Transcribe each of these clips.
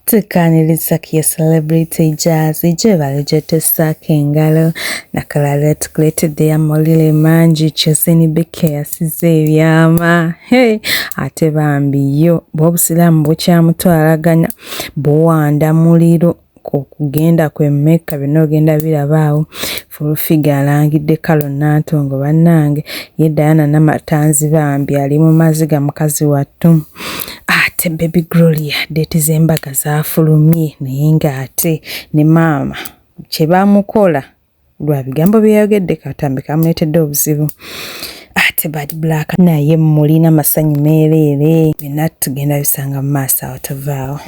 Tukaaniriza ku ye celebrity jazzy gyebali gyetessaako engalo nakalala yatukuleetedde ya mawulire mangi kyozini bikka yasize ebyama hey, ate bambi yo bwobusiraamu bukyamutwalaganya buwanda muliro kugenda kwe mekka byonna ogenda birabaawo Fulufiga alangidde Kalo Nantongo bannange ye Diana Namatanzi bambi ali mu maziga mukazi wattu ate baby Gloria deeti z'embaga zaafulumye naye ng'ate ne maama kye baamukola lwa bigambo bye yayogedde katambi kamuleetedde obuzibu ate bad black naye mulina masanyu meereere byonna tugenda bisanga mu maaso awo tuvaawo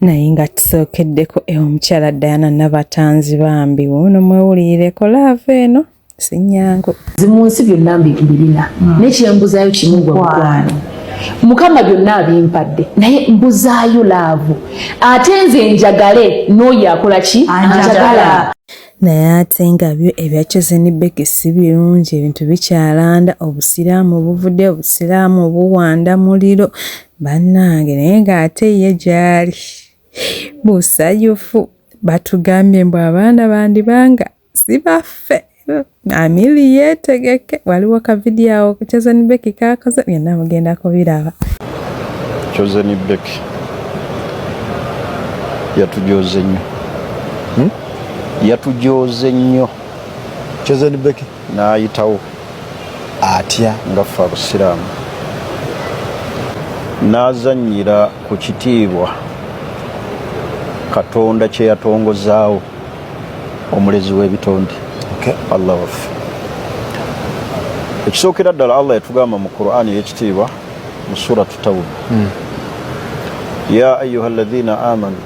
naye nga tusookeddeko e omukyala Diana Nabatanzi bambi wuuno mwewulirireko laava eno sinyangu zi mu nsi byonna mbibirina hmm. naye kyembuzaayo kimu gwamukwano mukama byonna abimpadde naye mbuzaayo laavu ate nze njagale n'oyo akola ki anjagala naye ate nga byo ebya Chosen Becky si birungi ebintu bikyalanda obusiraamu buvudde obusiraamu buwanda muliro Bannange naye ng'ate ye gy'ali musanyufu. Batugambye mbu abaana bandibanga si baffe. Amili yeetegeke, waliwo ka vidiyo awo Chosen Becky kaakoze byonna mugenda kubiraba. Chosen Becky yatujooze nnyo, hmm? yatujooze nnyo Chosen Becky. n'ayitawo atya nga ffe abusiraamu n'azannyira ku kitiibwa katonda kye yatongozaawo omulezi w'ebitonde allah waffe ekisookera ddala allah yatugamba mu quran ey'ekitiibwa mu suratu tawuba hmm. ya ayuha alladhina amanu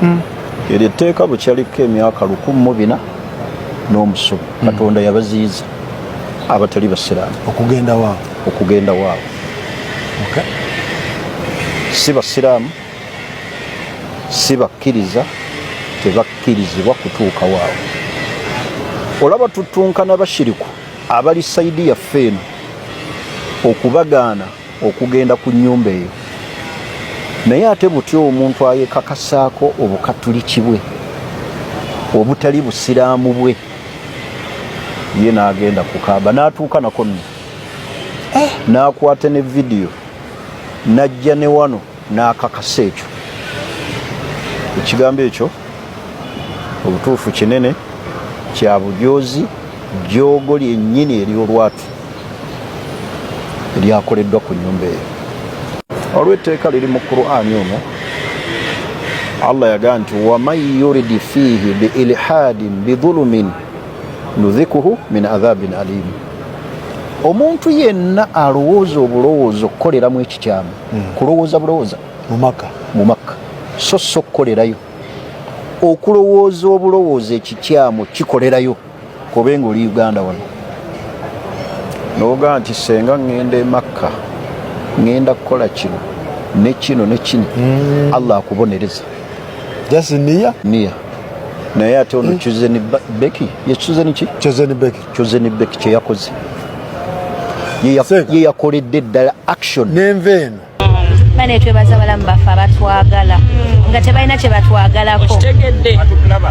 hmm. eryo etteeka bwe kyaliko emyaka lukumu mu bina n'omusubi hmm. katonda yabaziyiza abatali basiraamu okugenda waabwe okugenda waabwe si basiraamu si bakkiriza tebakkirizibwa kutuuka waabwe olaba tutunkana bashiriku abali saidi yaffe eno okubagaana okugenda ku nyumba eyo naye ate butya omuntu ayekakasaako obukatuliki bwe obutali busiraamu bwe ye n'agenda ku kaaba n'atuuka nako nno eh, n'akwata ne vidiyo n'ajja ne wano n'akakasa ekyo ekigambo ekyo obutuufu kinene kya bujoozi jjoogo lyennyini ery'olwatu eryakoleddwa ku nyumba eyo olw'etteeka liri mu qur'ani omu allah yagaa nti waman yuridi fiihi biilhaadin bidhulumin nudhikuhu min adhabin alimu omuntu yenna alowooza obulowooza okukoleramu ekikyamu hmm. kulowooza bulowooza mumaka mumaka so so okukolerayo okulowooza obulowooza ekikyamu kikolerayo kobe nga oli uganda wano noga nti senga ŋŋenda emakka ŋŋenda kukola kino ne kino ne kino hmm. allah akubonereza niya naye ate ono hmm. chuzeni beki ye chuzeni ki chuzeni beki Chosen Beck kye yakoze ye yakoledde ddala action nenva eno bane twebaza balamu baffe abatwagala nga tebalina kye batwagalako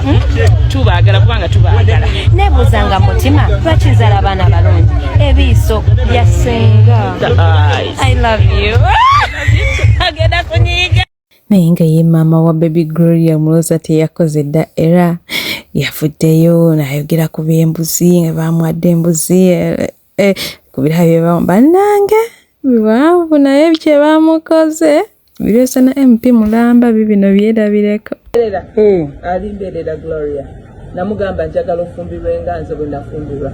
hmm? tubagala kubanga tubagala nebuuza nga mutima bakizala abaana balungi ebiiso byasenga i love you agenda kunyiiga naye nga ye maama wa baby gloria muloza teyakoze dda era yavuddeyo nayogera ku byembuzi nga bamwadde embuzi eh, eh, ku birabo byebamu bannange biwanvu naye kyebamukoze biryosana mp mulamba bibino byerabireko hmm. alimberera gloria namugamba njagala ofumbirwe nga nze bwe nafumbirwa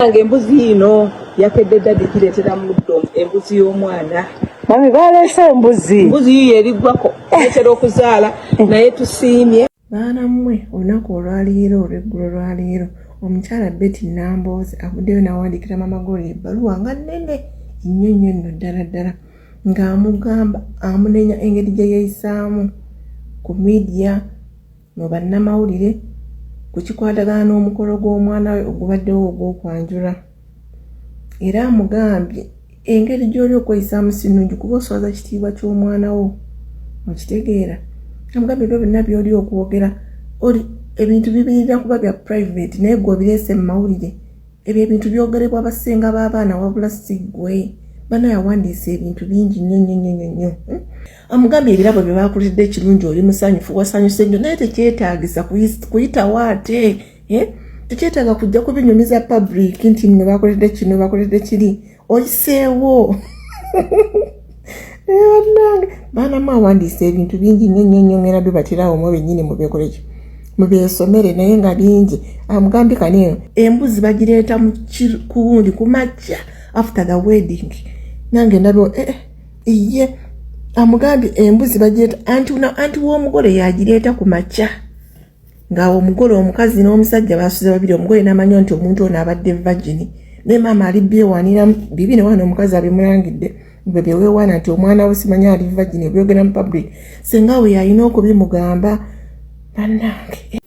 nga embuzi yino yakedde dadi gireetera muddo embuzi y'omwana mami baleese embuzi embuzi yiyo eriggwako etera okuzaala eh. naye tusiimye baana mmwe olunaku olwaleero olweggulo lwaleero omukyala beti namboozi avuddeyo n'awandiikira mama golo ebbaluwa nga nnene nnyo nnyo nno ddala ddala ng'amugamba amunenya engeri gye yeeyisaamu ku midiya mu bannamawulire ku kikwatagana n'omukolo gw'omwana we ogubaddewo ogw'okwanjula era amugambye engeri gy'oli okweyisaamu si nnungi kuba oswaza kitiibwa ky'omwana wo okitegeera amugambye ebyo byonna by'oli okwogera oli ebintu bibirira kuba bya private naye gwe obireese mu mawulire ebyo ebintu byogerebwa abasenga b'abaana wabula si ggwe bana yawandiisa ebintu bingi nnyo nnyo nnyo nnyo nnyo hmm? amugambye ebirabo bye baakulidde ekirungi oli musanyufu wasanyuse nnyo naye tekyetaagisa kuyitawo ate eh? tekyetaaga kujja kubinyumiza public nti nno bakoledde kino bakoledde kiri oyiseewo banange baana mu awandiisa ebintu bingi nyo nyo nyo ngera bibatirawo mu benyini mubekoleki mubyesomere naye nga bingi amugambye kani eno embuzi bagireeta kuwundi kumakya after the wedding nange ndabeo eh, eh. iye amugambye embuzi bagyeta anti anti w'omugole yagireeta ku makya nga omugole omukazi n'omusajja basuze babiri omugole namanyo nti omuntu ono abadde vagini naye maama ali byewanira bibi ne wana omukazi abimulangidde bwe byewewaana nti omwana we simanya ali vagini ebyogera mu public senga we yalina okubimugamba banange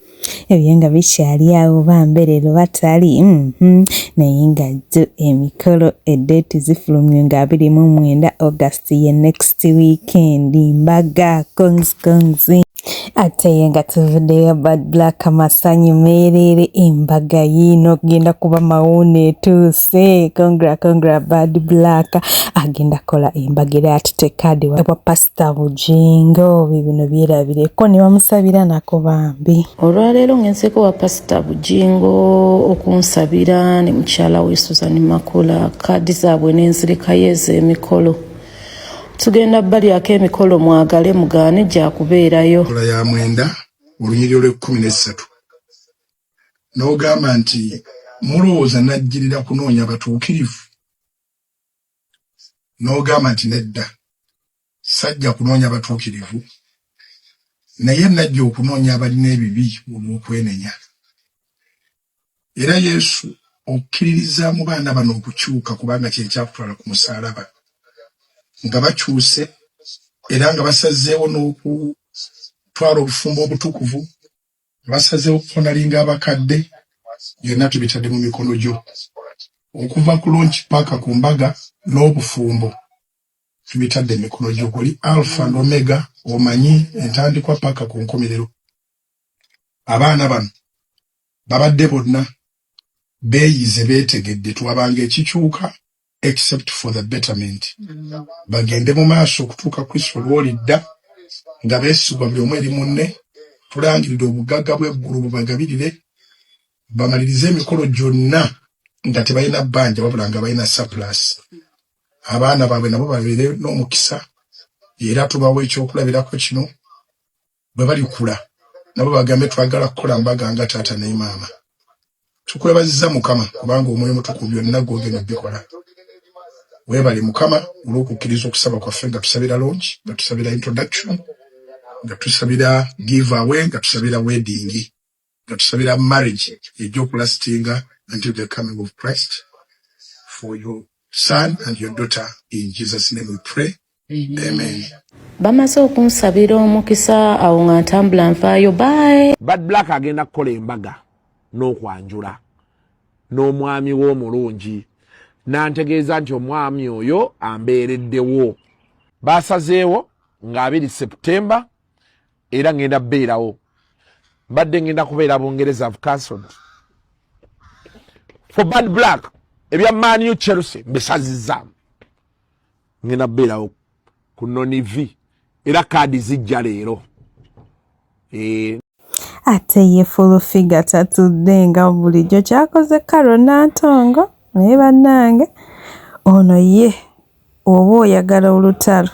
ebyo nga bikyali awo bambe leero batali mm-hmm. naye nga jo emikolo edeeti zifulumye nga abiri mu mwenda august ye next weekend mbaga congs congs ate ye nga tuvuddeyo bad black masanyu meereere embaga yiino genda kuba mawuuna etuuse congra congra bad black agenda kola embaga era atute kaadi wa pass Mister Bujingo bibino byerabireko ne bamusabira nako bambi. Olwaleero ngenzeko wa Pastor Bujingo okunsabira ne mukyala we Susan Makula kaadi zaabwe n'enzirekayo ez'emikolo tugenda balyako emikolo mwagale mugaane gya kubeerayo. Sula ya mwenda olunyiriri olw'ekkumi n'essatu n'ogamba nti mulowooza najjirira kunoonya batuukirivu? n'ogamba nti nedda sajja kunoonya batuukirivu naye najja okunoonya abalina ebibi olw'okwenenya. Era Yesu okkiririzaamu baana bano okukyuka kubanga kye kyakutwala ku musaalaba nga bakyuse era nga basazeewo n'okutwala obufumbo obutukuvu Basazeewo kukonalinga abakadde, byonna tubitadde mu mikono gyo. Okuva ku lonki paka ku mbaga n'obufumbo tubitadde mu mikono gyo. Oli Alfa and Omega, omanyi entandikwa paka ku nkomerero. Abaana bano babadde bonna beeyize, beetegedde, twabanga ekikyuka except for the betterment bagende mu maaso okutuuka kristo lwolidda nga beesigwa buli omu eri munne tulangiridde obugagga bw'eggulu bubagabirire bamalirize emikolo gyonna nga tebalina bbanja wabula nga balina surplus abaana baabwe nabo babeere n'omukisa era tubawa ekyokulabirako kino bwe balikula nabo bagambe twagala kukola mbaga nga taata ne maama. Tukwebazizza Mukama kubanga omwoyo mutukuvu byonna gwogenda bikola. Weebale Mukama olw'okukkiriza okusaba kwaffe nga tusabira longi, nga tusabira introduction, nga tusabira give away, nga tusabira wedding. nga tusabira marriage ejja okulastinga until the coming of Christ for your son and your daughter in Jesus name we pray amen bamaze okunsabira omukisa awo nga ntambula nfaayo bae bad black agenda kukola embaga n'okwanjula n'omwami we omulungi n'antegeeza nti omwami oyo ambeereddewo baasazeewo nga abiri septemba era ngenda beerawo mbadde ngenda kubeera bungereza have cancelled for bad black ebya manu chelsea mbisazizaamu ngenda beerawo ku noni v era kaadi zijja leero eh, ate ye fulufiga tatudde nga bulijjo kyakoze karo nantongo naye bannange ono ye Oba oyagala olutalo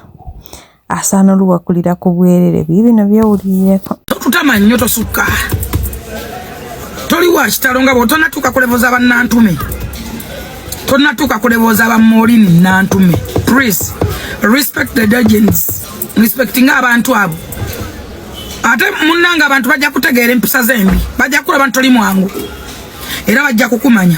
asaana oluwakulira ku bwerere bye bino byewulirireko. Totutama nnyo tosukka toli wa kitalo nga bw'otonatuuka ku levo za bannantume tonatuuka ku levo za bamoolini nnantume please respect the legends respectinga abantu abo ate munnanga abantu bajja kutegeera empisa z'embi bajja kulaba nti toli mwangu era bajja kukumanya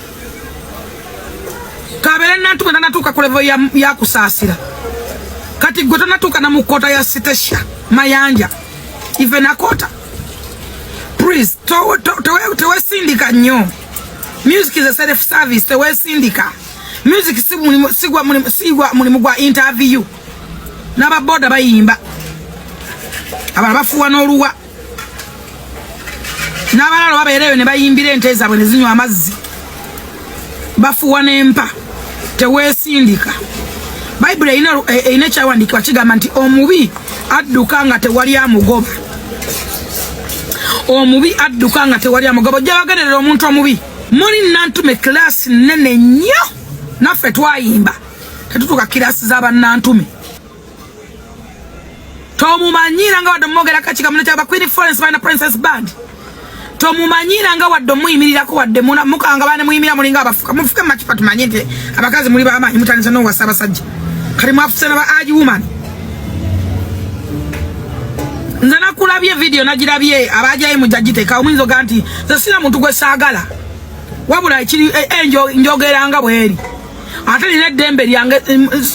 kabere nantume nanatuuka ku levo ya kusaasira kati gwe tonatuuka na mu kkoota ya sitesha mayanja even akota please tewesindika nnyo music is a self service tewesindika music sigwa mulimu gwa interview n'ababoda bayimba abalala bafuwa n'oluwa n'abalalo babeera eyo ne bayimbira ente zaabwe ne zinywa amazzi bafuwa n'empa teweesindika bayibuli erina eh, ekyawandiikibwa kigamba nti omubi adduka nga tewali amugoba omubi adduka nga tewali amugoba ojja bagenderera omuntu omubi muli nantume kilaasi nnene nnyo naffe twayimba tetutuuka kilaasi z'abannantume tomumanyira nga wadde omumwogera kakika mune kyaba queen florence balina princess band tomumanyira nga wadde omuyimirirako wadde mukanga bane muyimira mulinga abafuka mufuke makipa tumanye nti abakazi muli bamaanyi mutandisa nowasa abasajja kati mwafuse naba agi woman nze nakulabye vidiyo nagirabye abajayi mujagiteka omuyinza oga nti ze sina muntu gwe saagala wabula ekiri eh, eh, njogeranga bweri ate nina eddembe lyange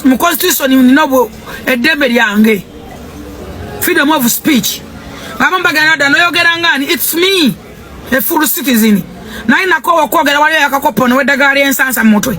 mu constitution nina eddembe lyange freedom of speech abamu bagenda dda noyogera ngaani its me a full citizen naye nakoowa okwogera waliyo yakakoppa onoweddagaa lyensansa mu mutwe